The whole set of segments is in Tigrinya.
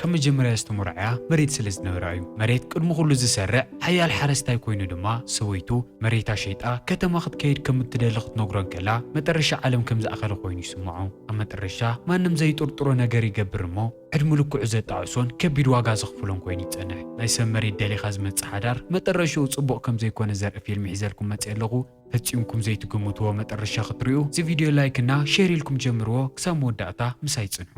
ካብ መጀመርያ ዝተሞርዐያ መሬት ስለ ዝነበራ እዩ። መሬት ቅድሚ ኩሉ ዝሰርዕ ሓያል ሓረስታይ ኮይኑ ድማ ሰበይቱ መሬታ ሸይጣ ከተማ ክትከይድ ከም እትደሊ ክትነግሮ እንከላ መጠረሻ ዓለም ከም ዝኣኸለ ኮይኑ ይስምዖ። ኣብ መጠረሻ ማንም ዘይጥርጥሮ ነገር ይገብር እሞ ዕድሙ ልክዑ ዘጣዕሶን ከቢድ ዋጋ ዘኽፍሎን ኮይኑ ይጸንሕ። ናይ ሰብ መሬት ደሊኻ ዝመጽእ ሓዳር መጠረሽኡ ጽቡቕ ከም ዘይኮነ ዘርኢ ፊልም ሒዘልኩም መጽየ ኣለኹ። ፈጺምኩም ዘይትግምትዎ መጠረሻ ክትርእዩ እዚ ቪድዮ ላይክ እና ሼር ኢልኩም ጀምርዎ ክሳብ መወዳእታ ምሳይ ጽንሑ።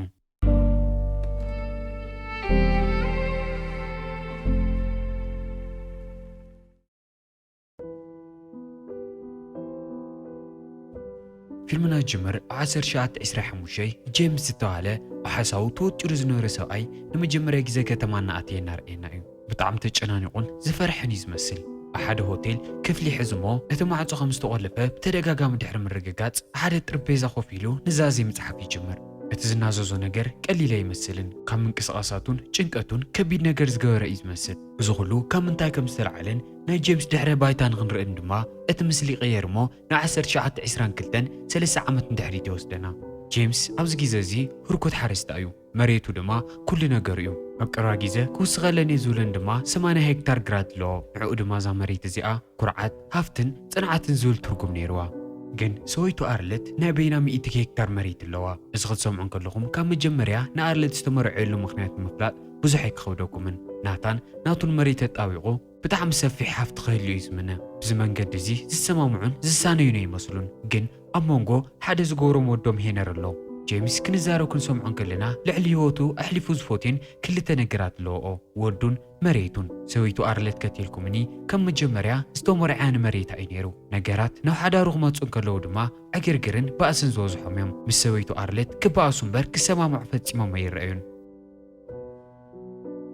ፊልምና ጅምር ኣብ 1925 ጄምስ ዝተባህለ ብሓሳቡ ተወጢሩ ዝነበረ ሰብኣይ ንመጀመርያ ግዜ ከተማ እናኣተየ እናርኣየና እዩ። ብጣዕሚ ተጨናኒቑን ዝፈርሐን እዩ ዝመስል። ኣብ ሓደ ሆቴል ክፍሊ ይሕዝ እሞ እቲ ማዕጾ ከም ዝተቖለፈ ብተደጋጋሚ ድሕሪ ምርግጋጽ፣ ኣብ ሓደ ጥርጴዛ ኮፍ ኢሉ ኑዛዜ ምጽሓፍ ይጅምር። እቲ ዝናዘዞ ነገር ቀሊል ኣይመስልን፣ ካብ ምንቅስቓሳቱን ጭንቀቱን ከቢድ ነገር ዝገበረ እዩ ዝመስል። እዚ ኹሉ ካብ ምንታይ ከም ዝተላዕለን ናይ ጀምስ ድሕረ ባይታ ንኽንርእን ድማ እቲ ምስሊ ይቕየር እሞ ንዓሰርተ ትሽዓተ ዒስራን ክልተን ሰለስተ ዓመት ንድሕሪት ይወስደና። ጀምስ ኣብዚ ግዜ እዚ ህርኩት ሓረስታይ እዩ። መሬቱ ድማ ኩሉ ነገሩ እዩ። ኣብ ቀረባ ጊዘ ክውስኸለን እየ ዝብለን ድማ ሰማንያ ሄክታር ግራት ኣለዎ። ንዕኡ ድማ እዛ መሬት እዚኣ ኩርዓት፣ ሃፍትን ፅንዓትን ዝብል ትርጉም ነይርዋ። ግን ሰወይቱ ኣርለት ናይ በይና ሚእቲ ሄክታር መሬት ኣለዋ። እዚ ክትሰምዑ እንከለኹም ካብ መጀመርያ ንኣርለት ዝተመርዐየሉ ምኽንያት ንምፍላጥ ብዙሕ ኣይክኸብደኩምን። ናታን ናቱን መሬት ኣጣቢቑ፣ ብጣዕሚ ሰፊሕ ሃፍቲ ክህሉ እዩ ዝምነ። ብዚ መንገዲ እዚ ዝሰማምዑን ዝሳነዩን ኣይመስሉን። ግን ኣብ ሞንጎ ሓደ ዝገብሮም ወዶም ሄነር ኣሎ። ጀምስ ክንዛረብ ክንሰምዖ እንከለና ልዕሊ ህይወቱ ኣሕሊፉ ዝፎትዮን ክልተ ነገራት ኣለዎኦ ወዱን መሬቱን። ሰበይቱ ኣርለት ከቲልኩምኒ ከም መጀመርያ ዝተሞርዕያ ንመሬታ እዩ ነይሩ። ነገራት ናብ ሓዳሩ ክመጹ እንከለዉ ድማ ዕግርግርን ባእስን ዝበዝሖም እዮም። ምስ ሰበይቱ ኣርለት ክባኣሱ እምበር ክሰማምዑ ፈጺሞም ኣይረኣዩን።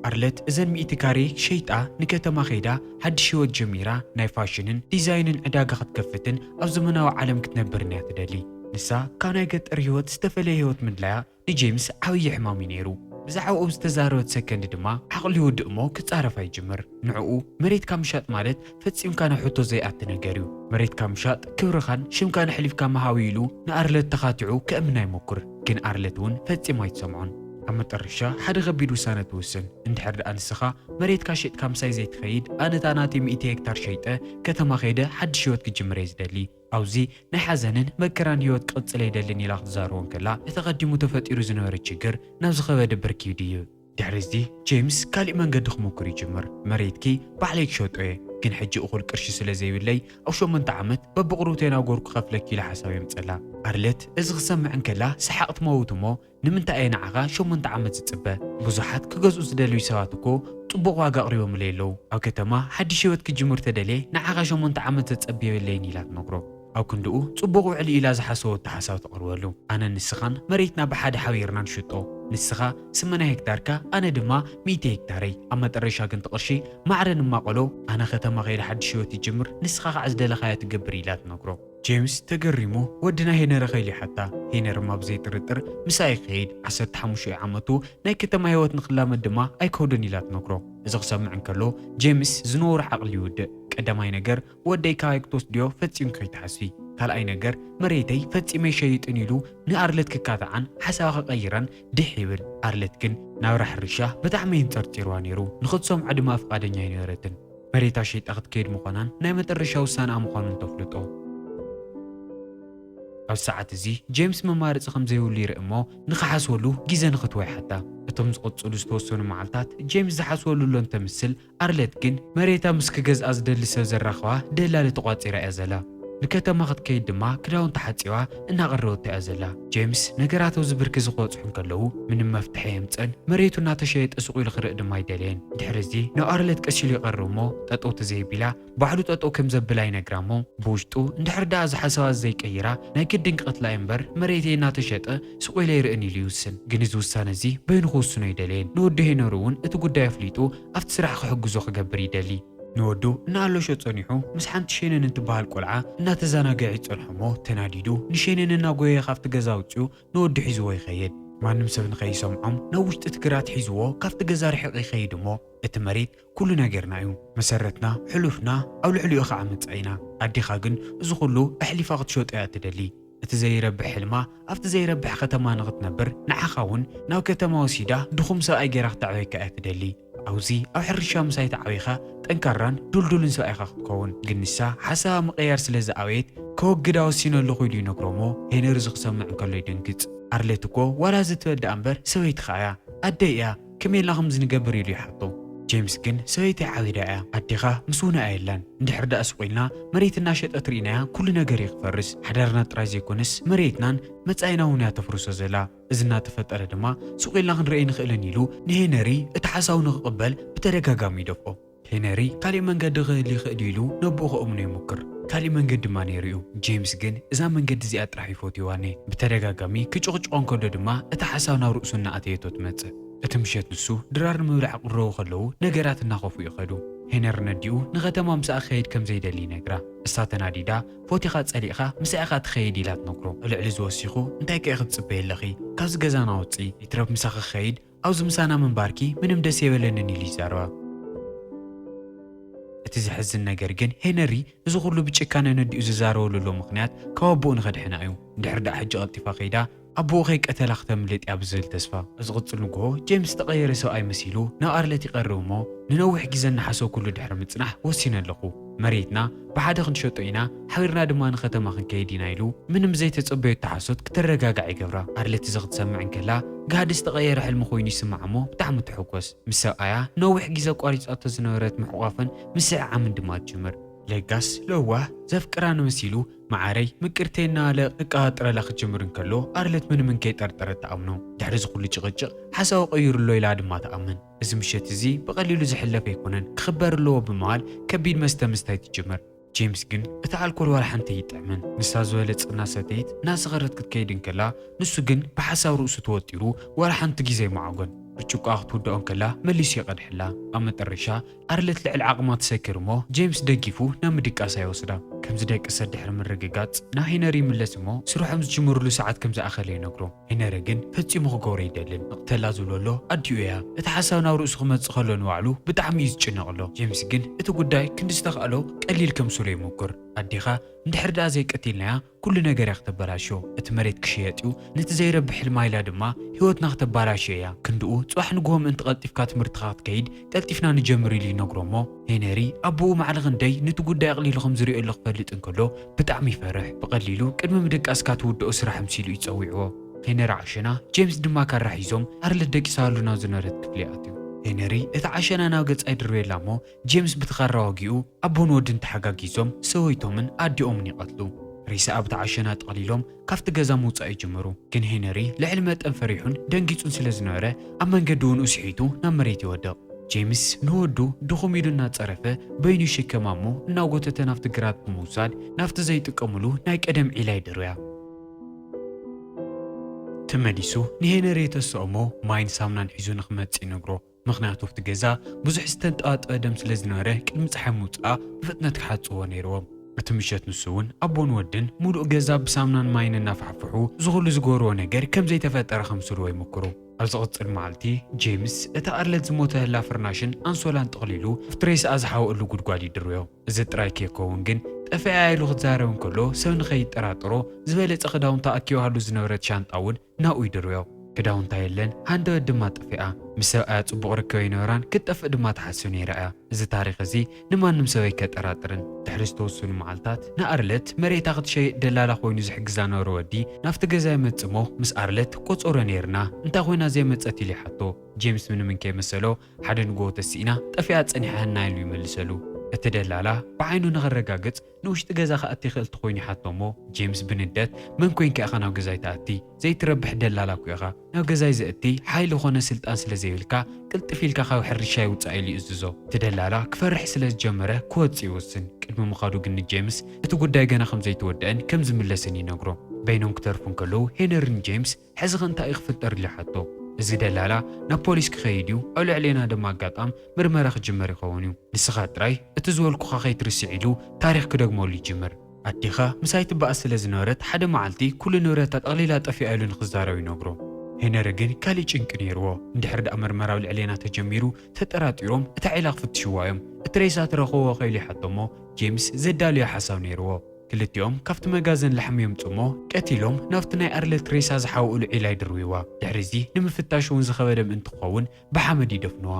ኣርለት እዘን ሚእቲ ካሬ ሸይጣ ንከተማ ከይዳ ሓድሽ ህይወት ጀሚራ ናይ ፋሽንን ዲዛይንን ዕዳጋ ክትከፍትን ኣብ ዘመናዊ ዓለም ክትነብርን እያ ትደሊ። ንሳ ካብ ናይ ገጠር ህይወት ዝተፈለየ ህይወት ምድላያ ንጄምስ ዓብዪ ሕማም እዩ ነይሩ። ብዛዕባኡ ኣብ ዝተዛረበት ሰከንድ ድማ ዓቕሉ ይውድእ'ሞ ክጻረፋ ይጅምር። ንዕኡ መሬትካ ምሻጥ ማለት ፈጺምካ ናብ ሕቶ ዘይኣቲ ነገር እዩ። መሬትካ ምሻጥ ክብርኻን ሽምካን ኣሕሊፍካ ምሃብ እዩ ኢሉ ንኣርለት ተኻቲዑ ከእምና ይሞክር። ግን ኣርለት እውን ፈጺማ ኣይትሰምዖን። ኣብ መጠረሻ ሓደ ከቢድ ውሳነ ትውስን። እንድሕር ደኣ ንስኻ መሬትካ ሼጥካ ምሳይ ዘይትኸይድ ኣነ እታ ናተይ ሚእቲ ሄክታር ሸይጠ ከተማ ከይደ ሓድሽ ህይወት ክጅምር እየ ዝደሊ። ኣብዚ ናይ ሓዘንን መከራን ህይወት ክቕጽል ኣይደልን ኢላ ክትዛረቦ እንከላ እቲ ኣቐዲሙ ተፈጢሩ ዝነበረ ችግር ናብ ዝኸበደ ብርኪ ይድይብ። ድሕሪ እዚ ጄምስ ካሊእ መንገዲ ክሙኩር ይጅምር፣ መሬትኪ ባዕለይ ክሸጦ እየ፣ ግን ሕጂ እኹል ቅርሺ ስለ ዘይብለይ ኣብ ሸሞንተ ዓመት በብቑሩብተይ እናጎርኩ ክኸፍለኪ ኢለ ሓሳብ የምጸላ። ኣርለት እዚ ክትሰምዕ እንከላ ሰሓቕ ትመውት እሞ ንምንታይ እየ ንዓኻ ሸሞንተ ዓመት ዝጽበ፣ ብዙሓት ክገዝኡ ዝደልዩ ሰባት እኮ ጽቡቕ ዋጋ ኣቕሪቦምለይ ኣለዉ፣ ኣብ ከተማ ሓዲሽ ህይወት ክጅምር ተደልየ ንዓኻ ሸሞንተ ዓመት ዘጸብዮ የለይን ኢላ ትነግሮ። ኣብ ክንድኡ ጽቡቕ ውዕሊ ኢላ ዝሓሰቦቶ ሓሳብ ተቕርበሉ። ኣነን ንስኻን መሬትና ብሓደ ሓቢርና ንሽጦ። ንስኻ ስመና ሄክታርካ ኣነ ድማ ሚእቲ ሄክታረይ። ኣብ መጠረሻ ግን እቲ ቅርሺ ማዕረ ንማቐሎ፣ ኣነ ከተማ ከይደ ሓድሽ ህይወት ይጅምር፣ ንስኻ ከኣ ዝደለኻዮ ትገብር ኢላ ትነግሮ። ጄምስ ተገሪሙ ወዲ ናይ ሄነሪ ከይሉ ይሓታ። ሄነርማ ብዘይ ጥርጥር ምሳኣ ይኸይድ፣ ዓሰርተ ሓሙሽኤ ዓመቱ ናይ ከተማ ህይወት ንኽላመድ ድማ ኣይከብዶን ኢላ ትነግሮ። እዚ ክሰምዕ እንከሎ ጄምስ ዝነወሮ ዓቕሊ ይውድእ። ቀዳማይ ነገር ወደይ ካባይ ክትወስድዮ ፈጺም ከይትሓስቢ። ካልኣይ ነገር መሬተይ ፈጺመ ኣይሸይጥን ኢሉ ንኣርለት ክካታዓን ሓሳባ ክቐይራን ድሕ ይብል። ኣርለት ግን ናብራ ሕርሻ ብጣዕሚ የንጸርጺርዋ ነይሩ። ንኽትሰምዖ ድማ ፍቓደኛ ኣይነበረትን። መሬታ ሸይጣ ክትከይድ ምዃናን ናይ መጠረሻ ውሳነኣ ምዃኑን ተፍልጦ። ኣብዚ ሰዓት እዚ ጄምስ መማረጺ ከም ዘይብሉ ይርኢ እሞ ንኽሓስበሉ ግዜ ንኽትቦ ይሓታ። እቶም ዝቕጽሉ ዝተወሰኑ መዓልታት ጄምስ ዝሓስበሉ እሎ እንተምስል፣ ኣርለት ግን መሬታ ምስ ክገዝኣ ዝደሊ ሰብ ዘራኽባ ደላሊ ተቋጺራ እያ ዘላ። ንከተማ ክትከይድ ድማ ክዳውንታ ሓጺባ እናቐረበቶ እያ ዘላ። ጄምስ ነገራት ኣብዚ ብርኪ እዚ ክበጽሑ እንከለዉ ምንም መፍትሒ ኣየምጸን። መሬቱ እናተሸየጠ ሱቕ ኢሉ ክርእ ድማ ኣይደለየን። ድሕሪ እዚ ናብ ኣርለት ቀስ ኢሉ ይቐርብ እሞ ጠጠው ተዘየቢላ ባዕሉ ጠጠው ከም ዘብላ ይነግራ እሞ ብውሽጡ እንድሕር ደኣ እዛ ሓሳባት ዘይቀይራ ናይ ግድን ክቅትላ እየ እምበር መሬተይ እናተሸጠ ሱቅ ኢለ ኣይርእን ኢሉ ይውስን ግን እዚ ውሳነ እዚ በይኑ ክውስኖ ኣይደለየን ንወዱ ሄኖሪ እውን እቲ ጉዳይ ኣፍሊጡ ኣብቲ ስራሕ ክሕግዞ ክገብር ይደሊ ንወዱ እናኣለሾ ጸኒሑ ምስ ሓንቲ ሼነን እትበሃል ቆልዓ እናተዛናገዐ ይጸንሖ እሞ ተናዲዱ ንሼነን እናጎየየ ካብቲ ገዛ ኣውጺኡ ንወዱ ሒዝዎ ይኸይድ ማንም ሰብ ንከይሰምዖም ናብ ውሽጢ እቲ ግራት ሒዝዎ ካብቲ ገዛ ርሒቅ ይኸይድ እሞ እቲ መሬት ኩሉ ነገርና እዩ መሰረትና ሕሉፍና ኣብ ልዕሊኡ ካዓ መፃኢና ኣዴኻ ግን እዚ ኩሉ ኣሕሊፋ ክትሸጦ እያ እትደሊ እቲ ዘይረብሕ ሕልማ ኣብቲ ዘይረብሕ ኸተማ ንኽትነብር ንዓኻ እውን ናብ ከተማ ወሲዳ ድኹም ሰብኣይ ገይራ ክተዕበየካ እያ እትደሊ ኣብዙ ኣብ ሕርሻ ምሳይ ተዓቢኻ ጠንካራን ዱልዱልን ሰብኣይ ኢኻ ክትከውን ግን ንሳ ሓሳባ ምቕያር ስለ ዝኣበየት ከወግዳ ወሲነ ኣለኹ ኢሉ ይነግሮ እሞ ሄነሪ እዚ ክሰምዕ እንከሎ ይደንግፅ ኣርሌት እኮ ዋላ እዚ ትበል ድኣ እምበር ሰበይትኻ እያ ኣደይ እያ ከመይ ኢልና ከምዚ ንገብር ኢሉ ይሓቶ። ጀምስ ግን ሰበይተይ ዓቢዳ እያ ኣዴኻ ምስ ውነ ኣየላን እንድሕር ድኣ ስቕ ኢልና መሬት እናሸጠት ርኢናያ ኩሉ ነገር እዩ ክፈርስ ሓዳርና ጥራይ ዘይኮነስ መሬትናን መጻኢና እውን እያ ተፍርሶ ዘላ እዚ እናተፈጠረ ድማ ስቕ ኢልና ክንርኢ ኣይንኽእልን ኢሉ ንሄነሪ እቲ ሓሳቡ ንኽቕበል ብተደጋጋሚ ይደፍኦ። ሄነሪ ካሊእ መንገዲ ክህሊ ይኽእል እዩ ኢሉ ነቦኡ ከእምኖ ይሙክር። ካሊእ መንገዲ ድማ ነይሩ እዩ። ጄምስ ግን እዛ መንገዲ እዚኣ ጥራሕ እዩ ፈትይዋ እኔ። ብተደጋጋሚ ክጭቕጭቖ እንከሎ ድማ እታ ሓሳብ ናብ ርእሱ እናኣተየቶ ትመጽእ። እቲ ምሸት ንሱ ድራር ንምብላዕ ክቕረቡ ከለዉ ነገራት እናኸፍኡ ይኸዱ። ሄነሪ ነዲኡ ንኸተማ ምሳኣ ክኸይድ ከም ዘይደሊ ይነግራ። እሳ ተናዲዳ ፎቲኻ ጸሊእኻ ምሳኣ ኢኻ ትኸይድ ኢላ ትነግሮ። ዕልዕል እዚ ወሲኹ እንታይ ከ ኢኺ ትጽበዪ ኣለኺ ካብዚ ገዛና ውጽኢ ይትረፍ ምሳኺ ክኸይድ ኣብዚ ምሳና ምንባርኪ ምንም ደስ የበለንን ኢሉ ይዛረባ። እቲ ዘሕዝን ነገር ግን ሄነሪ እዚ ኩሉ ብጭካነ ነዲኡ ዝዛረበሉ ዘሎ ምኽንያት ካብ ኣቦኡ ንኸድሕና እዩ። እንድሕር ደኣ ሕጂ ቀልጢፋ ከይዳ ኣቦኡ ከይቀተላ ክተምልጥ እያ ብዝብል ተስፋ። ኣብ ዝቕጽል ንግሆ ጄምስ ዝተቐየረ ሰብኣይ መሲሉ ናብ ኣርለት ይቐርብ እሞ ንነዊሕ ግዜ እናሓሰብኩሉ ድሕሪ ምጽናሕ ወሲነ ኣለኹ። መሬትና ብሓደ ክንሸጦ ኢና፣ ሓቢርና ድማ ንከተማ ክንከይድ ኢና ኢሉ ምንም ዘይተጸበዮቶ ሓሶት ክትረጋጋዕ ይገብራ። ኣርሊ እቲ እዚ ክትሰምዕ እንከላ ጋህዲ ዝተቐየረ ሕልሚ ኮይኑ ይስምዓ እሞ ብጣዕሚ ትሕጎስ። ምስ ሰብኣያ ንነዊሕ ግዜ ኣቋሪጻቶ ዝነበረት ምሕቋፍን ምስሕዓምን ድማ ትጅምር። ለጋስ ለዋህ ዘፍቅራን መሲሉ መዓረይ ምቅርተይ እናበለ ክቀባጥረላ ክጅምር እንከሎ ኣርልት ምንም እንከይጠርጠረት ትኣምኖ። ድሕሪ እዚ ኩሉ ጭቕጭቕ ሓሳቡ ቀይሩ ኣሎ ኢላ ድማ ትኣምን። እዚ ምሸት እዚ ብቐሊሉ ዝሕለፍ ኣይኮነን፣ ክኽበር ኣለዎ ብምባል ከቢድ መስተ ምስታይ ትጅምር። ጄምስ ግን እቲ ኣልኮል ዋላ ሓንቲ ኣይጥዕምን። ንሳ ዝበለጸ እናሰተየት እናሰኸረት ክትከይድ እንከላ፣ ንሱ ግን ብሓሳብ ርእሱ ተወጢሩ ዋላ ሓንቲ ግዜ ኣይመዓጐን። ብርጭቆኣ ክትውድኦ እንከላ መሊሱ ይቐድሐላ። ኣብ መጠረሻ ኣርለት ልዕሊ ዓቕማ ትሰክር እሞ ጄምስ ደጊፉ ናብ ምድቃሳ ይወስዳ። ከም ዝደቀሰት ድሕሪ ምርግጋጽ ናብ ሄነሪ ይምለስ እሞ ስርሖም ዝጅምርሉ ሰዓት ከም ዝኣኸለ ይነግሮ። ሄነሪ ግን ፈጺሙ ክገብሮ ኣይደልን። ንቕተላ ዝብሎ ኣሎ ኣዲኡ እያ። እቲ ሓሳብ ናብ ርእሱ ክመጽእ ከሎ ንባዕሉ ብጣዕሚ እዩ ዝጭነቕ ኣሎ። ጄምስ ግን እቲ ጉዳይ ክንዲ ዝተኻእሎ ቀሊል ከምስሎ ይሙኩር። ኣዴኻ እንድሕር ድኣ ዘይቀቲልናያ ኩሉ ነገር እያ ክተበላሽዮ። እቲ መሬት ክሽየጥ እዩ፣ ነቲ ዘይረብሕ ሕልማ ኢላ ድማ ህይወትና ክተባላሽዮ እያ። ክንድኡ ጽባሕ ንግሆ ምእንቲ ቀልጢፍካ ትምህርትኻ ክትከይድ ቀልጢፍና ንጀምር ኢሉ ይነግሮ እሞ፣ ሄነሪ ኣቦኡ ማዕረ ክንደይ ኑቲ ጉዳይ ኣቕሊሉ ከም ዝርእዮሉ ክፈልጥ እንከሎ ብጣዕሚ ይፈርሕ። ብቐሊሉ ቅድሚ ምድቃስካ ትውድኦ ስራሕ ምሲሉ እዩ ጸዊዕዎ። ሄነሪ ዓሸና ጄምስ ድማ ካራ ሒዞም ኣርለት ደቂሳሉ ናብ ዝነበረት ክፍሊ ኣትዩ። ሄነሪ እታ ዓሸና ናብ ገጻ ይድርብየላ እሞ ጄምስ ብቲ ካራ ወጊኡ ኣቦን ወድን ተሓጋጊዞም ሰበይቶምን ኣዲኦምን ይቐትሉ። ሬሳ ኣብታ ዓሸና ጠቕሊሎም ካብቲ ገዛ ምውጻእ ይጅምሩ። ግን ሄነሪ ልዕሊ መጠን ፈሪሑን ደንጊጹን ስለ ዝነበረ ኣብ መንገዲ ውንኡ ስሒቱ ናብ መሬት ይወድቕ። ጄምስ ንወዱ ድኹም ኢሉ እናጸረፈ በይኑ ይሽከማ እሞ እናጎተተ ናብቲ ግራት ብምውሳድ ናብቲ ዘይጥቀሙሉ ናይ ቀደም ዒላ ይድርብያ። ተመሊሱ ንሄነሪ የተስኦ እሞ ማይን ሳምናን ሒዙ ንክመጽእ ይነግሮ። ምኽንያቱ ኣብቲ ገዛ ብዙሕ ዝተንጠባጠበ ደም ስለ ዝነበረ ቅድሚ ፀሓይ ምውፅኣ ብፍጥነት ክሓፅብዎ ነይርዎም። እቲ ምሸት ንሱ እውን ኣቦን ወድን ሙሉእ ገዛ ብሳምናን ማይን እናፋሕፍሑ እዚ ኹሉ ዝገበርዎ ነገር ከም ዘይተፈጠረ ከምስልዎ ይሙኩሩ። ኣብ ዝቕፅል መዓልቲ ጄምስ እቲ ኣርለት ዝሞተላ ፍርናሽን ኣንሶላን ጠቕሊሉ ኣብቲ ሬስኣ ዝሓወእሉ ጉድጓድ ይድርብዮ። እዚ ጥራይ ከይከውን ግን ጠፊኣ'ያ ኢሉ ክዛረብ እንከሎ ሰብ ንኸይጠራጠሮ ዝበለጸ ክዳውንታ ኣኪባሉ ዝነበረት ሻንጣ እውን ናብኡ ይድርብዮ። ክዳውንታ የለን፣ ሃንደበት ድማ ጠፊኣ። ምስ ሰብኣያ ጽቡቕ ርክብ ኣይነበራን፣ ክትጠፍእ ድማ ትሓስብ ነይራ እያ። እዚ ታሪኽ እዚ ንማንም ሰብ ኣይከጠራጥርን። ድሕሪ ዝተወሰኑ መዓልታት ንኣርለት መሬታ ክትሸይጥ ደላላ ኮይኑ ዝሕግዛ ዝነበረ ወዲ ናብቲ ገዛ ይመጽእ'ሞ ምስ ኣርለት ቆጸሮ ነይርና፣ እንታይ ኮይና ዘይመጸት ኢሉ ይሓቶ። ጄምስ ምንም እንከይመሰሎ ሓደ ንግሆ ተሲእና ጠፊኣ ጸኒሓህና ኢሉ ይመልሰሉ። እቲ ደላላ ብዓይኑ ንኸረጋግጽ ንውሽጢ ገዛ ክኣቲ ይኽእል ተኾይኑ ይሓቶ እሞ ጄምስ ብንደት መን ኮንካ ኢኻ ናብ ገዛይ ትኣቲ ዘይትረብሕ ደላላ እኮ ኢኻ ናብ ገዛይ ዘእቲ ሓይሊ ኮነ ስልጣን ስለ ዘይብልካ ቅልጥፍ ኢልካ ካብ ሕርሻይ ውጻእ ኢሉ ይእዝዞ እቲ ደላላ ክፈርሕ ስለ ዝጀመረ ክወጽእ ይወስን ቅድሚ ምኻዱ ግን ንጄምስ እቲ ጉዳይ ገና ከም ዘይተወደኣን ከም ዝምለስን ይነግሮ በይኖም ክተርፉ እንከለዉ ሄነሪ ንጄምስ ሕዚኸ እንታይ እዩ ክፍጠር ኢለ ይሓቶ። እዚ ደላላ ናብ ፖሊስ ክኸይድ እዩ፣ ኣብ ልዕሌና ድማ ኣጋጣም ምርመራ ክጅመር ይኸውን እዩ። ንስኻ ጥራይ እቲ ዝበልኩኻ ከይትርስዕ ኢሉ ታሪኽ ክደግመሉ ይጅምር። ኣዴኻ ምሳይ ትበኣስ ስለ ዝነበረት ሓደ መዓልቲ ኩሉ ንብረታ ጠቕሊላ ጠፊኣ ኢሉ ንክዛረብ ይነግሮ። ሄነሪ ግን ካሊእ ጭንቂ ነይርዎ። እንድሕር ደኣ ምርመራ ኣብ ልዕሌና ተጀሚሩ ተጠራጢሮም እታ ዒላ ክፍትሽዋ እዮም። እቲ ሬሳ ትረኽብዎኸ ኢሉ ይሓቶ እሞ ጄምስ ዘዳልዮ ሓሳብ ነይርዎ። ክልቲኦም ካብቲ መጋዘን ላሕሚ የምጽኡ'ሞ ቀቲሎም ናብቲ ናይ ኣርለት ሬሳ ዝሓውእሉ ዒላ ይድርብይዋ። ድሕሪ'ዚ ንምፍታሽ'ውን ዝኸበደ ምእንቲ ክኸውን ብሓመድ ይደፍንዋ።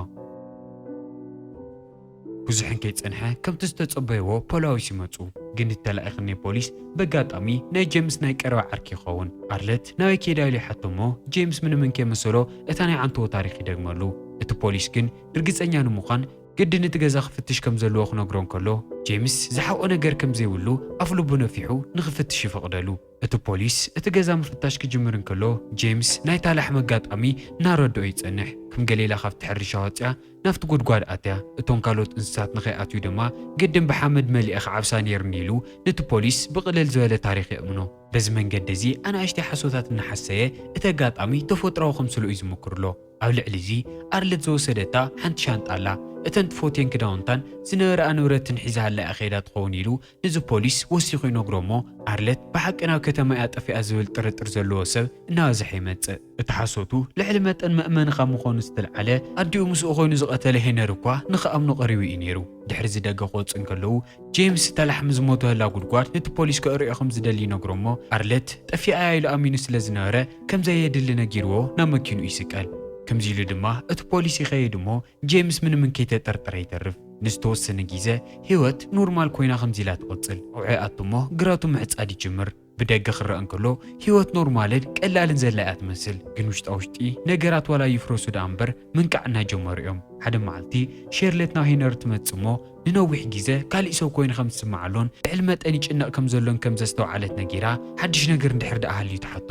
ብዙሕን ከይጸንሐ ከምቲ ዝተጸበይዎ ፖላዊስ ይመጹ። ግን እቲ ተላኢኽኒ ፖሊስ በጋጣሚ ናይ ጄምስ ናይ ቀረባ ዓርኪ ይኸውን። ኣርለት ናበይ ከይዳ ኢሉ ይሓቶ'ሞ ጄምስ ምንምን ከይመሰሎ እታ ናይ ዓንተቦ ታሪኽ ይደግመሉ። እቲ ፖሊስ ግን ርግጸኛ ንምዃን ግድን እቲ ገዛ ክፍትሽ ከም ዘለዎ ክነግሮ እንከሎ፣ ጄምስ ዝሓብኦ ነገር ከም ዘይብሉ ኣፍ ልቡ ነፊሑ ንኽፍትሽ ይፍቕደሉ። እቲ ፖሊስ እቲ ገዛ ምፍታሽ ክጅምር እንከሎ፣ ጄምስ ናይታ ላሕሚ ኣጋጣሚ እናረድኦ ይጸንሕ። ከም ገሊላ ካብቲ ሕርሻ ወጺኣ ናብቲ ጕድጓድ ኣትያ፣ እቶም ካልኦት እንስሳት ንኸይኣትዩ ድማ ግድን ብሓመድ መሊኤ ክዓብሳ ነይሩኒ ኢሉ ንቲ ፖሊስ ብቕልል ዝበለ ታሪኽ የእምኖ። በዚ መንገዲ እዚ ኣናእሽተይ ሓሶታት እናሓሰየ እቲ ኣጋጣሚ ተፈጥሮኣዊ ከምስል'ዩ ዝምክርሎ። ኣብ ልዕሊ'ዚ ኣርለት ዝወሰደታ ሓንቲ ሻንጣ ኣላ፣ እተን ትፎትየን ክዳውንታን ዝነበራኣ ንብረትን ሒዛሃላ'ያ ከይዳ ትኸውን ኢሉ ነዚ ፖሊስ ወሲኹ ይነግሮ'ሞ ኣርለት ብሓቂ ናብ ከተማ'ያ ጠፊኣ ዝብል ጥርጥር ዘለዎ ሰብ እናበዝሐ ይመጽእ። እቲ ሓሶቱ ልዕሊ መጠን መእመኒ ካብ ምኾኑ ዝተልዓለ ኣዲኡ ምስኡ ኮይኑ ዝቐተለ ሄነሪ እኳ ንኽኣምኖ ቀሪቡ'ዩ ነይሩ። ድሕሪ'ዚ ደገ ክወጽኡ እንከለዉ፣ ጄምስ እታ ላሕሚ ዝሞተላ ጉድጓድ ነቲ ፖሊስ ከእርዮ ከም ዝደሊ ይነግሮ እሞ ኣርለት ጠፊኣ እያ ኢሉ ኣሚኑ ስለ ዝነበረ ከም ዘየድሊ ነጊርዎ ናብ መኪንኡ ይስቀል። ከምዚ ኢሉ ድማ እቲ ፖሊስ ይኸይድ እሞ ጄምስ ምንምን ከይተጠርጠረ ይተርፍ። ንዝተወሰነ ጊዘ ህይወት ኖርማል ኮይና ከምዚ ኢላ ትቕጽል። ኣውዕኣቱ እሞ ግራቱ ምዕጻድ ይጅምር። ብደገ ክረኣ እንከሎ ህይወት ኖርማልን ቀላልን ዘላ እያ ትመስል፣ ግን ውሽጣ ውሽጢ ነገራት ዋላ ይፍረሱ ደኣ እምበር ምንቃዕ እናጀመሩ እዮም። ሓደ መዓልቲ ሼርለት ናብ ሄነሪ ትመጽእ እሞ ንነዊሕ ግዘ ካሊእ ሰብ ኮይኑ ከም ዝስምዓሎን ልዕሊ መጠን ይጭነቕ ከም ዘሎን ከም ዘስተውዓለት ነጊራ ሓድሽ ነገር እንድሕር ደኣ ሃልዩ ትሓቶ።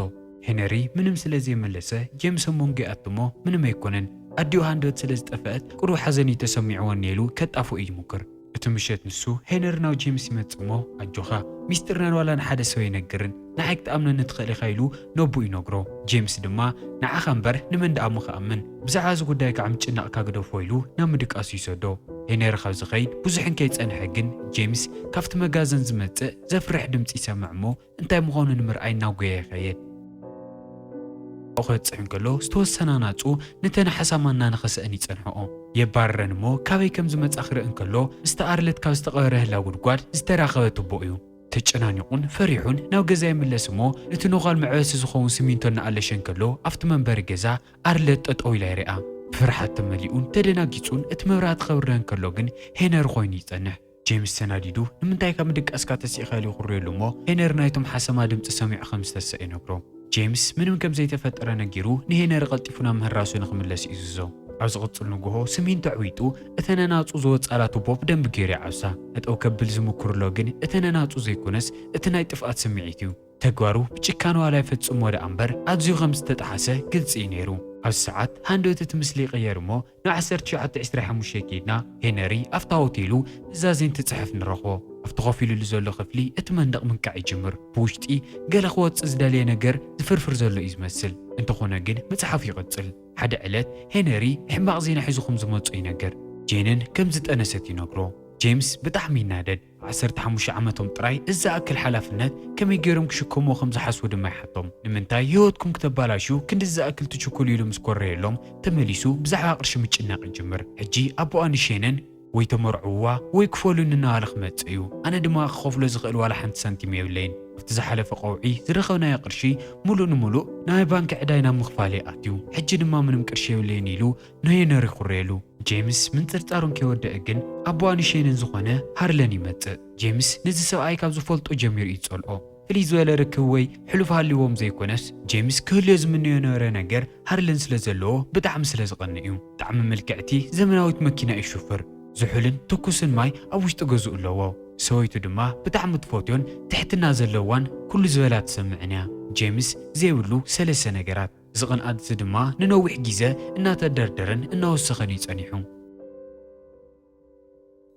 ሄነሪ ምንም ስለ ዘይመለሰ ጄምስ ኣብ መንጎ ይኣቱ እሞ ምንም ኣይኮነን ኣዲኡ ሃንደበት ስለ ዝጠፈኣት ቅሩብ ሓዘን እዩ ተሰሚዕወኒ ኢሉ ከጣፍኦ ይሙክር። እቲ ምሸት ንሱ ሄነሪ ናብ ጄምስ ይመጽእ እሞ ኣጆኻ ሚስጢርና ንዋላ ንሓደ ሰብ ኣይነግርን ንዓይ ክትኣምነኒ ትኽእል ኢኻ ኢሉ ነቡኡ ይነግሮ ጄምስ ድማ ንዓኻ እምበር ንመን ደኣ እሞ ክኣምን ብዛዕባ እዚ ጉዳይ ካዓ ምጭናቕካ ግደፎ ኢሉ ናብ ምድቃሱ ይሰዶ ሄነሪ ካብ ዝኸይድ ብዙሕ እንከይጸንሐ ግን ጄምስ ካብቲ መጋዘን ዝመጽእ ዘፍርሕ ድምጺ ይሰምዕ እሞ እንታይ ምዃኑ ንምርኣይ እናጎየ ይኸይድ። ኣብኡ ከብጽሕ እንከሎ ዝተወሰነ ኣናጹ ነተን ሓሳማ እናነኸሰ'ን ይጸንሕኦ። የባርረን እሞ ካበይ ከም ዝመጻ ክርኢ እንከሎ ምስታ ኣርለት ካብ ዝተቐበረ ህላው ጉድጓድ ዝተራኸበ ቱቦ እዩ። ተጨናኒቑን ፈሪሑን ናብ ገዛ ይምለስ እሞ ነቲ ኖዃል መዕበሲ ዝኸውን ስሚንቶ እናኣለሸ እንከሎ ኣብቲ መንበሪ ገዛ ኣርለት ጠጠው ኢላ ይሪኣ። ብፍርሓት ተመሊኡን ተደናጊጹን እቲ መብራህቲ ከብርህ እንከሎ ግን ሄነሪ ኮይኑ ይጸንሕ። ጄምስ ተናዲዱ፣ ንምንታይ ካብ ምድቃስካ ተሲእካ ኢሉ ይኹርየሉ እሞ፣ ሄነሪ ናይቶም ሓሰማ ድምጺ ሰሚዑ ከም ዝተሰእ ይነግሮ። ጄምስ ምንም ከም ዘይተፈጠረ ነጊሩ ንሄነሪ ቀልጢፉ ናብ ምህራሱ ንኽምለስ ይእዝዞ። ኣብ ዝቕጽል ንግሆ ስሚንቶ ኣዕዊጡ እተን ኣናጹ ዝወጻላ ቱቦ ብደንቢ ገይሩ ይዓብሳ። ጠጠው ከብል ዝምኩርሎ ግን እቲ ነናጹ ዘይኮነስ እቲ ናይ ጥፍኣት ስምዒት እዩ። ተግባሩ ብጭካነ ዋላ ይፈጽሞ ደኣ እምበር ኣዝዩ ከም ዝተጠሓሰ ግልጺ እዩ ነይሩ። ኣብዚ ሰዓት ሃንደበት እቲ ምስሊ ይቕየር እሞ፣ ን ዓሰርተ ትሽዓተ ዕስራ ሓሙሽተ ኬድና ሄነሪ ኣብታ ሆቴሉ ኑዛዜ እንትጽሕፍ ንረኽቦ። ኣብቲ ኮፍ ኢሉሉ ዘሎ ክፍሊ እቲ መንደቕ ምንቃዕ ይጅምር። ብውሽጢ ገለ ክወጽእ ዝደለየ ነገር ዝፍርፍር ዘሎ እዩ ዝመስል። እንተኾነ ግን ምጽሓፉ ይቕጽል። ሓደ ዕለት ሄነሪ ሕማቕ ዜና ሒዙ ከም ዝመጾ ይነገር። ጄንን ከም ዝጠነሰት ይነግሮ። ጄምስ ብጣዕሚ ይናደድ። ዓሰርተ ሓሙሽተ ዓመቶም ጥራይ እዚ ዝኣክል ሓላፍነት ከመይ ገይሮም ክሽከምዎ ከም ዝሓስቡ ድማ ይሓቶም። ንምንታይ ህይወትኩም ክተባላሽው ክንድዚ ዝኣክል ትችኩሉ ኢሉ ምስ ኮረየሎም ተመሊሱ ብዛዕባ ቅርሺ ምጭናቕ ይጅምር። ሕጂ ኣቦኣ ንሼነን ወይ ተመርዕውዋ ወይ ክፈሉኒ እናበለ ክመጽእ እዩ። ኣነ ድማ ክኸፍሎ ዝኽእል ዋላ ሓንቲ ሳንቲም የብለይን። ኣብቲ ዝሓለፈ ቀውዒ ዝረኸብናዮ ቅርሺ ምሉእ ንምሉእ ንናይ ባንኪ ዕዳይ ናብ ምኽፋል እዩ ኣትዩ። ሕጂ ድማ ምንም ቅርሺ የብለይን ኢሉ ናይ የነሪ ኩሬሉ ጄምስ ምንጥርጣሩ እንከይወደኣ ግን ኣቦኣ ንሼንን ዝኾነ ሃርለን ይመጽእ። ጄምስ ነዚ ሰብኣይ ካብ ዝፈልጦ ጀሚሩ እዩ ዝጸልኦ። ፍልይ ዝበለ ርክብ ወይ ሕሉፍ ሃልይዎም ዘይኮነስ ጄምስ ክህልዮ ዝምነዮ ዝነበረ ነገር ሃርለን ስለ ዘለዎ ብጣዕሚ ስለ ዝቐንእ እዩ። ብጣዕሚ ምልክዕቲ ዘመናዊት መኪና እዩ ዝሽፍር። ዝሑልን ትኩስን ማይ ኣብ ውሽጢ ገዝኡ ኣለዎ። ሰበይቱ ድማ ብጣዕሚ ትፈትዮን ትሕትና ዘለዋን ኩሉ ዝበላ ትሰምዕን እያ። ጄምስ ዘይብሉ ሰለስተ ነገራት። እዚ ቅንኣት እዚ ድማ ንነዊሕ ግዜ እናተደርደረን እናወሰኸን እዩ ጸኒሑ።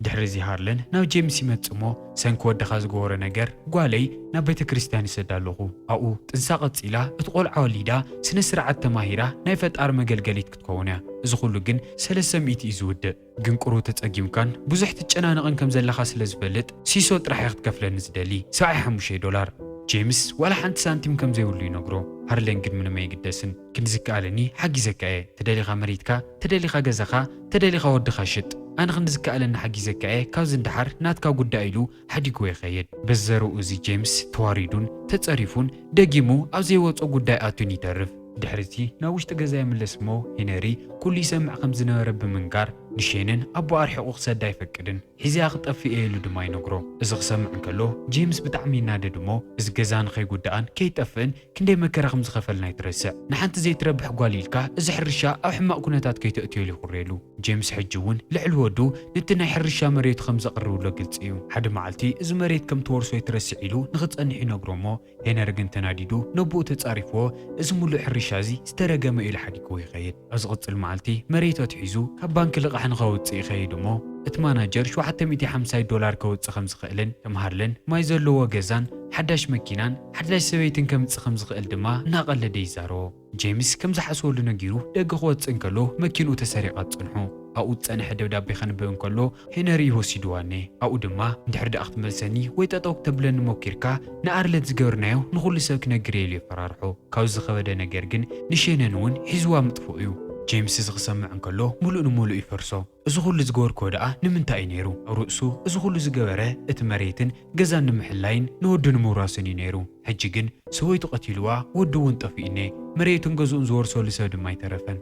ድሕሪ እዚ ሃርለን ናብ ጄምስ ይመጽእ እሞ ሰንኪ ወድኻ ዝገበሮ ነገር ጓለይ ናብ ቤተ ክርስቲያን ይሰዳ ኣለኹ። ኣብኡ ጥንሳ ቀጺላ እቲ ቆልዓ ወሊዳ ስነ ስርዓት ተማሂራ ናይ ፈጣሪ መገልገሊት ክትከውን እያ። እዚ ኩሉ ግን ሰለስተ ሚእቲ እዩ ዝውድእ። ግን ቁሩብ ተጸጊምካን ብዙሕ ትጨናነቕን ከም ዘለኻ ስለ ዝፈልጥ ሲሶ ጥራሕ እየ ክትከፍለኒ ዝደሊ ሰብዓይ ሓሙሽተ ዶላር። ጄምስ ዋላ ሓንቲ ሳንቲም ከም ዘይብሉ ይነግሮ። ሃርለን ግን ምንም ኣይግደስን። ክንዲ ዝከኣለኒ ሓጊዘካ እየ። ተደሊኻ መሬትካ፣ ተደሊኻ ገዛኻ፣ ተደሊኻ ወድኻ ሽጥ። ኣነ ክንዲ ዝከኣለኒ ሓጊዘካ እየ ካብዚ ንደሓር ናትካ ጉዳይ ኢሉ ሓዲጉ ይኸይድ። በዘርኡ እዚ ጄምስ ተዋሪዱን ተጸሪፉን ደጊሙ ኣብ ዘይወጾ ጉዳይ ኣትዩን ይተርፍ። ድሕሪ'ዚ ናብ ውሽጢ ገዛ ይምለስ እሞ ሄነሪ ኩሉ ይሰምዕ ከም ዝነበረ ብምንጋር ንሼንን ኣቦኣ ኣርሒቑ ክሰዳ ኣይፈቅድን። ሒዘያ ክጠፍእ እየ ኢሉ ድማ ይነግሮ። እዚ ክሰምዕ እንከሎ ጄምስ ብጣዕሚ ይናደድ እሞ እዚ ገዛ ንኸይጉዳእን ከይጠፍእን ክንደይ መከራ ከም ዝኸፈልና ኣይትረስዕ። ንሓንቲ ዘይትረብሕ ጓል ኢልካ እዚ ሕርሻ ኣብ ሕማቕ ኩነታት ከይተእትዮ ኢሉ ይኹርየሉ። ጄምስ ሕጂ እውን ልዕሊ ወዱ ነቲ ናይ ሕርሻ መሬቱ ከም ዘቕርብሎ ግልጺ እዩ። ሓደ መዓልቲ እዚ መሬት ከም ትወርሶ ኣይትረስዕ ኢሉ ንኽጸንሕ ይነግሮ እሞ ሄነሪ ግን ተናዲዱ ነቦኡ ተጻሪፍዎ እዚ ምሉእ ሕርሻ እዚ ዝተረገመ እዩ ኢሉ ሓዲግዎ ይኸይድ። ኣብ ዝቕጽል መዓልቲ መሬት ኣትሒዙ ካብ ባንኪ ልቓሕ ንኸውጽእ ይኸይድ እሞ እቲ ማናጀር ሸውዓተ ሚእቲ ሓምሳይ ዶላር ከውጽእ ከም ዝኽእልን ከም ሃርለን ማይ ዘለዎ ገዛን ሓዳሽ መኪናን ሓዳሽ ሰበይትን ከምጽእ ከም ዝኽእል ድማ እናቐለደ ይዛረቦ። ጄምስ ከም ዝሓስበሉ ነጊሩ ደገ ክወጽእ እንከሎ መኪንኡ ተሰሪቓ ትጸንሖ። ኣብኡ ዝጸንሐ ደብዳቤ ከንብብ እንከሎ ሄነሪ ወሲድዋኒ ኣብኡ ድማ እንድሕር ድኣ ክትመልሰኒ ወይ ጠጠው ክተብለኒ ሞኪርካ ንኣርለት ዝገብርናዮ ንኹሉ ሰብ ክነግር እየ ኢሉ የፈራርሖ ካብዚ ዝኸበደ ነገር ግን ንሼነን እውን ሒዝዋ ምጥፍኡ እዩ ጄምስ እዚ ክሰምዕ እንከሎ ሙሉእ ንሙሉእ ይፈርሶ እዚ ኩሉ ዝገበርክዎ ድኣ ንምንታይ እዩ ነይሩ ኣብ ርእሱ እዚ ኩሉ ዝገበረ እቲ መሬትን ገዛን ንምሕላይን ንወዱ ንምውራስን እዩ ነይሩ ሕጂ ግን ሰበይቱ ቀቲልዋ ወዱ እውን ጠፊኡ እኔ መሬቱን ገዝኡን ዝወርሰሉ ሰብ ድማ ኣይተረፈን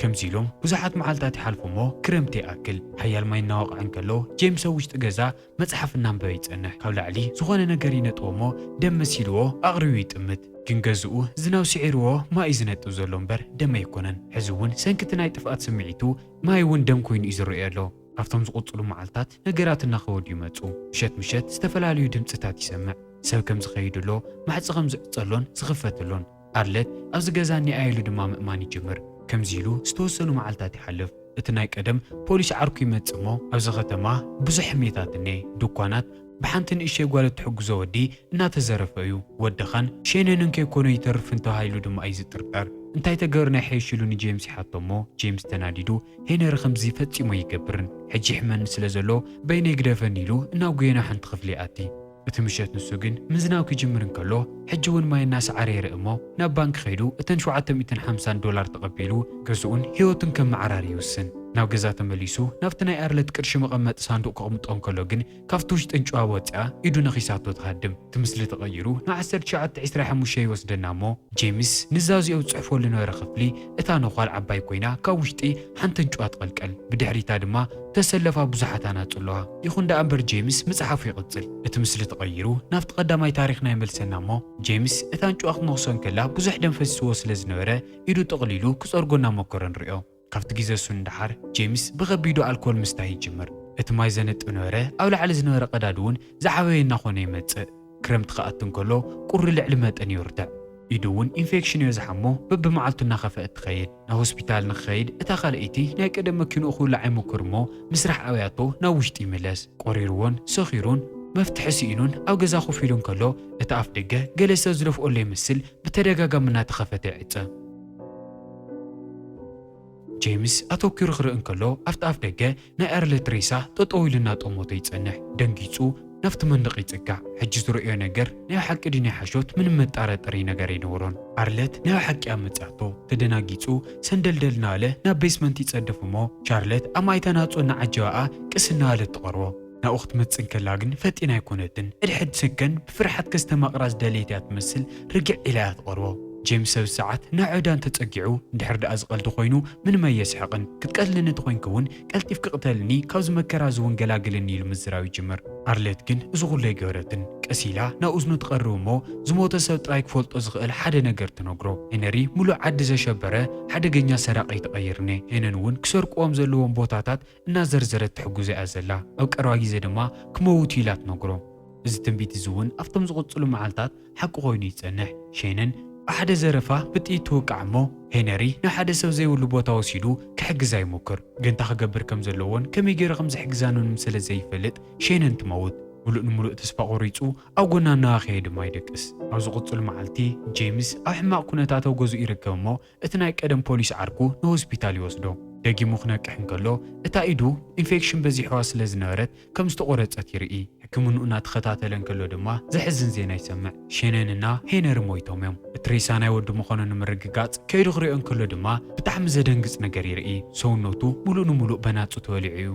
ከምዚ ኢሎም ብዙሓት መዓልታት ይሓልፉ እሞ ክረምቲ ይኣክል። ሓያል ማይ እናወቕዐ እንከሎ ጄምስ ኣብ ውሽጢ ገዛ መጽሓፍ እናንበበ ይጸንሕ። ካብ ላዕሊ ዝኾነ ነገር ይነጥቦ እሞ ደም መሲልዎ ኣቕርዩ ይጥምት። ግን ገዝኡ ዝናብ ስዒርዎ ማይ እዩ ዝነጥብ ዘሎ እምበር ደም ኣይኮነን። ሕዚ እውን ሰንኪ እቲ ናይ ጥፍኣት ስምዒቱ ማይ እውን ደም ኮይኑ እዩ ዝረእዮ ዘሎ። ኣብቶም ዝቕጽሉ መዓልታት ነገራት እናኸበዱ ይመጹ። ምሸት ምሸት ዝተፈላለዩ ድምጽታት ይሰምዕ። ሰብ ከም ዝኸይድ ኣሎ፣ ማሕጽ ከም ዝዕጸሎን ዝኽፈት ኣሎን። ኣርለት ኣብዚ ገዛ እኒኣ ኢሉ ድማ ምእማን ይጅምር። ከምዚ ኢሉ ዝተወሰኑ መዓልታት ይሓልፍ። እቲ ናይ ቀደም ፖሊስ ዓርኩ ይመጽእ እሞ ኣብዚ ከተማ ብዙሕ ሕሜታት እኔ። ድኳናት ብሓንቲ ንእሽተይ ጓል እትሕግዞ ወዲ እናተዘረፈ እዩ። ወዲ ኻን ሼነንን ከይኮኑ ኣይተርፍን ተባሂሉ ድማ እዩ ዝጥርጠር። እንታይ ተገሩ ናይ ሐይሽ ኢሉ ንጄምስ ይሓቶ እሞ ጄምስ ተናዲዱ ሄነሪ ከምዚ ፈጺሙ ኣይገብርን ሕጂ ይሕመኒ ስለ ዘሎ በይነይ ግደፈኒ ኢሉ እናጉየና ሓንቲ ክፍሊ ይኣቲ። እቲ ምሸት ንሱ ግን ምዝናው ክጅምር እንከሎ ሕጂ እውን ማይ እናሰዓረ ይርእ እሞ ናብ ባንኪ ከይዱ እተን ሸውዓተ ሚእትን ሓምሳን ዶላር ተቐቢሉ ገዝኡን ህይወቱን ከመዓራሪ ይውስን። ናብ ገዛ ተመሊሱ ናብቲ ናይ ኣርለት ቅርሺ መቐመጢ ሳንዱቕ ከቕምጦ እንከሎ ግን ካብቲ ውሽጢ እንጭዋ ወጺኣ ኢዱ ነኺሳቶ ትሃድም። እቲ ምስሊ ተቐይሩ ንዓሰርተ ትሽዓተ ዕስራ ሓሙሽተ ይወስደና እሞ ጄምስ ንዛዚኦ ዝጽሕፈሉ ዝነበረ ክፍሊ እታ ነዃል ዓባይ ኮይና ካብ ውሽጢ ሓንቲ እንጭዋ ትቐልቀል ብድሕሪታ ድማ ተሰለፋ ብዙሓት ኣናጹ ኣለዋ። ይኹን ደኣ እምበር ጀይምስ ምጽሓፉ ይቕጽል። እቲ ምስሊ ተቐይሩ ናብቲ ቀዳማይ ታሪኽና ይመልሰና እሞ ጀይምስ እታ ኣንጭዋ ክትነኽሶ እንከላ ብዙሕ ደም ፈሲስዎ ስለ ዝነበረ ኢዱ ጠቕሊሉ ክጸርጎ እናሞከረ ንርእዮ። ካብቲ ግዜ እሱ ንደሓር ጀይምስ ብኸቢዱ ኣልኮል ምስታይ ይጅምር። እቲ ማይ ዘንጥብ ነበረ ኣብ ላዕሊ ዝነበረ ቀዳድ'ውን ዝዓበየ እናኾነ ይመጽእ። ክረምቲ ክኣቲ እንከሎ ቁሪ ልዕሊ መጠን ይርትዕ። ኢዱ እውን ኢንፌክሽንዮ ዝሓሞ በብመዓልቱ እናኸፈ እትኸይድ። ናብ ሆስፒታል ንክኸይድ እታ ካልኣይቲ ናይ ቀደም መኪንኡ ክውልዓ ይሙክር እሞ ምስራሕ ኣብያቶ ናብ ውሽጢ ይምለስ። ቆሪርዎን ሰኺሩን መፍትሒ ስኢኑን ኣብ ገዛ ኮፍ ኢሉ እንከሎ እቲ ኣፍ ደገ ገለ ሰብ ዝደፍኦሎ ይመስል ብተደጋጋሚ እናተኸፈተ ይዕጸ። ጄምስ ኣተኲሩ ክርኢ እንከሎ ኣብቲ ኣፍደገ ናይ ኣርለት ሬሳ ጠጠው ኢሉ እናጠመቶ ይጸንሕ። ደንጊጹ ናብቲ መንደቕ ይጽጋዕ። ሕጂ ዝርእዮ ነገር ናይ ብሓቂ ድዩ ናይ ሓሾት ምንም መጣራጠሪ ነገር ኣይነበሮን። ኣርለት ናይ ብሓቂ እያ መጺኣቶ። ተደናጊጹ ሰንደልደል እናበለ ናብ ቤስመንት ይጸድፍ እሞ ቻርለት ኣብ ማይታ ናጹ እናዓጀበኣ ቅስ እናበለት ትቐርቦ። ናብኡ ክትመጽእ እንከላ ግን ፈጢና ኣይኮነትን። ሕድሕድ ሰከንድ ብፍርሓት ከስተማቕራ ዝደለየት እያ ትመስል፣ ርግዕ ኢላ እያ ትቐርቦ። ጄምስ ሰብሰዓት ናብ ዕዳን ተጸጊዑ፣ እንድሕር ደኣ እዚ ቀልዲ ኮይኑ ምንም ኣየስሕቕን፣ ክትቀትለኒ ተኾይንኪ እውን ቀልጢፍኪ ቅተልኒ፣ ካብዚ መከራ እዚ እውን ገላግልኒ ኢሉ ምዝራብ ይጅምር። ኣርለት ግን እዚ ኩሉ ኣይገበረትን። ቀስ ኢላ ናብ እዝኑ ትቐርብ እሞ ዝሞተ ሰብ ጥራይ ክፈልጦ ዝኽእል ሓደ ነገር ትነግሮ። ሄነሪ ምሉእ ዓዲ ዘሸበረ ሓደገኛ ሰራቒ ተቐይርኔ፣ ሄነን እውን ክሰርቁዎም ዘለዎም ቦታታት እናዘርዘረት ትሕግዞ እያ ዘላ፣ ኣብ ቀረባ ግዜ ድማ ክመውት እዩ ኢላ ትነግሮ። እዚ ትንቢት እዚ እውን ኣብቶም ዝቕጽሉ መዓልታት ሓቂ ዀይኑ ይጸንሕ። ሸይንን ብሓደ ዘረፋ ብጥይት ትውቃዕ እሞ፣ ሄነሪ ንሓደ ሰብ ዘይብሉ ቦታ ወሲዱ ክሕግዛ ይሙክር። ግን እንታይ ክገብር ከም ዘለዎን ከመይ ገይሩ ከም ዝሕግዛን'ውን ስለ ዘይፈልጥ ሸይንን ትመውት። ምሉእ ንምሉእ ተስፋ ቈሪጹ ኣብ ጐና እናሃኸየ ድማ ይደቅስ። ኣብ ዝቕጽሉ መዓልቲ፣ ጀይምስ ኣብ ሕማቕ ኵነታት ኣብ ገዝኡ ይርከብ እሞ፣ እቲ ናይ ቀደም ፖሊስ ዓርኩ ንሆስፒታል ይወስዶ። ደጊሙ ክነቅሕ እንከሎ እታ ኢዱ ኢንፌክሽን በዚሕዋ ስለ ዝነበረት ከም ዝተቖረጸት ይርኢ። ሕክምንኡ እናተኸታተለ እንከሎ ድማ ዘሕዝን ዜና ይሰምዕ። ሼነን እና ሄነሪ ሞይቶም እዮም። እቲ ሬሳ ናይ ወዱ ምዃኑ ንምርግጋጽ ከይዱ ክሪኦ እንከሎ ድማ ብጣዕሚ ዘደንግጽ ነገር ይርኢ። ሰውነቱ ምሉእ ንምሉእ በናጹ ተበሊዑ እዩ።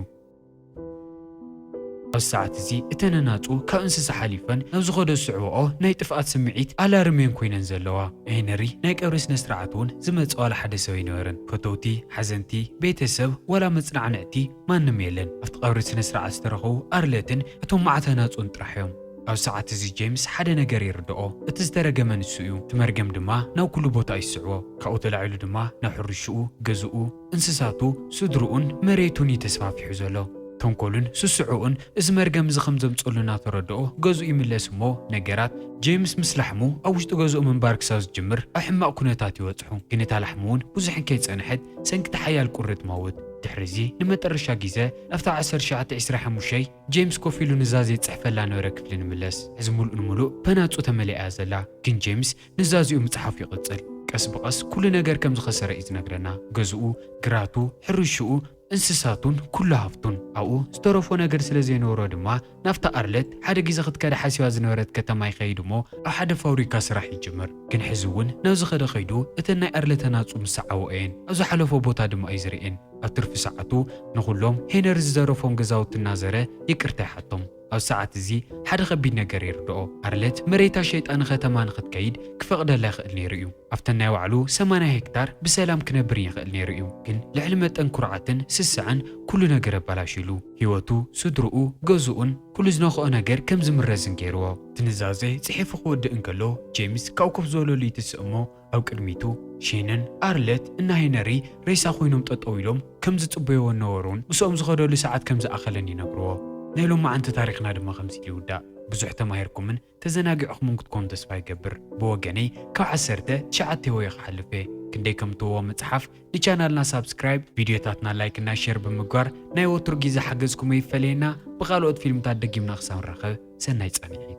ኣብዚ ሰዓት እዚ እተን ኣናጹ ካብ እንስሳ ሓሊፈን ናብ ዝኸዶ ዝስዕባኦ ናይ ጥፍኣት ስምዒት ኣላርም እየን ኮይነን ዘለዋ። ሄነሪ ናይ ቀብሪ ስነ ስርዓት እውን ዝመጸ ዋላ ሓደ ሰብ ኣይነበረን። ፈተውቲ፣ ሓዘንቲ፣ ቤተሰብ ዋላ መጽናዕንዕቲ ማንም የለን። ኣብቲ ቀብሪ ስነ ስርዓት ዝተረኸቡ ኣርለትን እቶም መዓት ኣናጹን ጥራሕ እዮም። ኣብዚ ሰዓት እዚ ጄምስ ሓደ ነገር ይርድኦ፣ እቲ ዝተረገመ ንሱ እዩ፣ እቲ መርገም ድማ ናብ ኩሉ ቦታ እዩ ዝስዕቦ። ካብኡ ተላዒሉ ድማ ናብ ሕርሽኡ፣ ገዝኡ፣ እንስሳቱ፣ ስድርኡን መሬቱን እዩ ተስፋፊሑ ዘሎ። ተንኮሉን ስስዐኡን እዚ መርገም እዚ ከም ዘምጸሉ እናተረድኦ ገዝኡ ይምለስ እሞ ነገራት፣ ጀይምስ ምስ ላሕሙ ኣብ ውሽጢ ገዝኡ ምንባር ክሳብ ዝጅምር ኣብ ሕማቕ ኩነታት ይበጽሑ። ግን እታ ላሕሙ እውን ብዙሕ ከይጸንሐት ሰንኪ'ቲ ሓያል ቁሪ ትመውት። ድሕሪ'ዚ ንመጠረሻ ጊዘ ኣብታ ዓሰርተ ትሽዓተ ዒስራ ሓሙሽይ ጀይምስ ኮፍ ኢሉ ንዛ ዘይጽሕፈላ ነበረ ክፍሊ ንምለስ። ሕዚ ምሉእ ንምሉእ በናጹ ተመሊኣ እያ ዘላ። ግን ጀይምስ ንዛዚኡ ምጽሓፉ ይቕጽል። ቀስ ብቐስ ኩሉ ነገር ከም ዝኸሰረ እዩ ዝነግረና፣ ገዝኡ፣ ግራቱ፣ ሕርሽኡ፣ እንስሳቱን ኩሉ ሃፍቱን። ኣብኡ ዝተረፎ ነገር ስለ ዘይነበሮ ድማ ናብታ ኣርለት ሓደ ግዜ ክትከዳ ሓሲባ ዝነበረት ከተማ ይኸይድ እሞ ኣብ ሓደ ፋብሪካ ስራሕ ይጅምር። ግን ሕዚ እውን ናብ ዝኸደ ከይዱ እተን ናይ ኣርለት ኣናጹ ምስ ሰዓብኦ እየን። ኣብ ዝሓለፎ ቦታ ድማ እዩ ዝርእየን። ኣብ ትርፊ ሰዓቱ ንኹሎም ሄነሪ ዝዘረፎም ገዛውቲ እናዘረ ይቅርታ ይሓቶም። ኣብ ሰዓት እዚ ሓደ ከቢድ ነገር ይርድኦ። ኣርለት መሬታ ሸይጣ ንከተማ ንክትከይድ ክፈቕደላ ይኽእል ነይሩ እዩ። ኣብተን ናይ ባዕሉ ሰማንያ ሄክታር ብሰላም ክነብርን ይኽእል ነይሩ እዩ። ግን ልዕሊ መጠን ኩርዓትን ስስዐን ኩሉ ነገር ኣባላሽዩሉ። ህይወቱ፣ ስድርኡ፣ ገዝኡን ኩሉ ዝነኽኦ ነገር ከም ዝምረዝን ገይርዎ። እቲ ኑዛዜ ጽሒፉ ክወድእ እንከሎ፣ ጄምስ ካብኡ ኮፍ ዝበለሉ ይትስእ እሞ፣ ኣብ ቅድሚቱ ሼንን ኣርለት እና ሄነሪ ሬሳ ኮይኖም ጠጠው ኢሎም ከም ዝጽበይዎ እነበሩን ምስኦም ዝኸደሉ ሰዓት ከም ዝኣኸለን ይነግርዎ። ናይ ሎማዕንቲ ታሪኽና ድማ ከምዚ ኢሉ ይውዳእ። ብዙሕ ተማሂርኩምን ተዘናጊዕኹምን ክትኮኑ ተስፋ ይገብር። ብወገነይ ካብ ዓሰርተ ትሽዓተ ወየ ክሓልፍ እየ። ክንደይ ከም ትህቦ ምጽሓፍ፣ ንቻናልና ሳብስክራይብ፣ ቪድዮታትና ላይክ እና ሼር ብምግባር ናይ ወትሩ ጊዘ ሓገዝኩም ኣይፈለየና። ብኻልኦት ፊልምታት ደጊምና ክሳብ ንራኸብ ሰናይ ጻንሒት።